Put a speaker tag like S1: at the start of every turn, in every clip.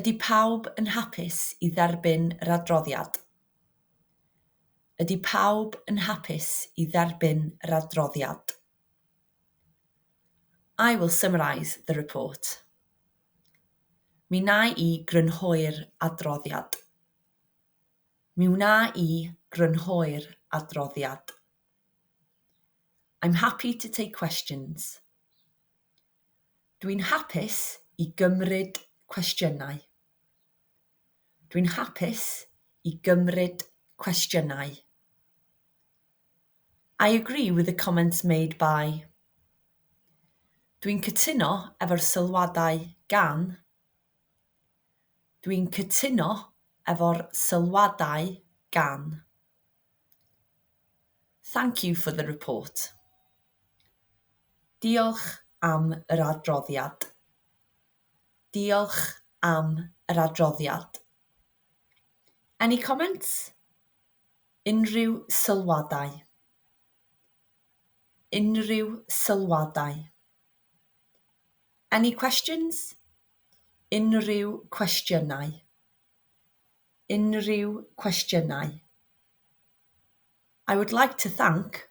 S1: Ydy pawb yn hapus i dderbyn yr adroddiad? Ydy pawb yn hapus i dderbyn yr adroddiad? I will summarise the report. Mi wna i grynhoi'r adroddiad. Mi wna i grynhoi'r adroddiad. I'm happy to take questions. Dwi'n hapus i gymryd cwestiynau. Dwi'n hapus i gymryd cwestiynau. I agree with the comments made by Dwi'n cytuno efo'r sylwadau gan Dwi'n cytuno efo'r sylwadau gan Thank you for the report. Diolch am yr adroddiad. Diolch am yr adroddiad. Any comments? Unrhyw sylwadau? Unrhyw sylwadau? Any questions? Unrhyw cwestiynau? unrhyw cwestiynau? I would like to thank,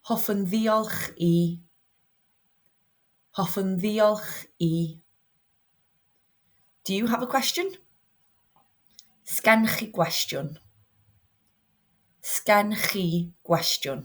S1: hoffwn ddiolch i, hoffwn ddiolch i, do you have a question? sgen chi gwestiwn, sgen chi gwestiwn.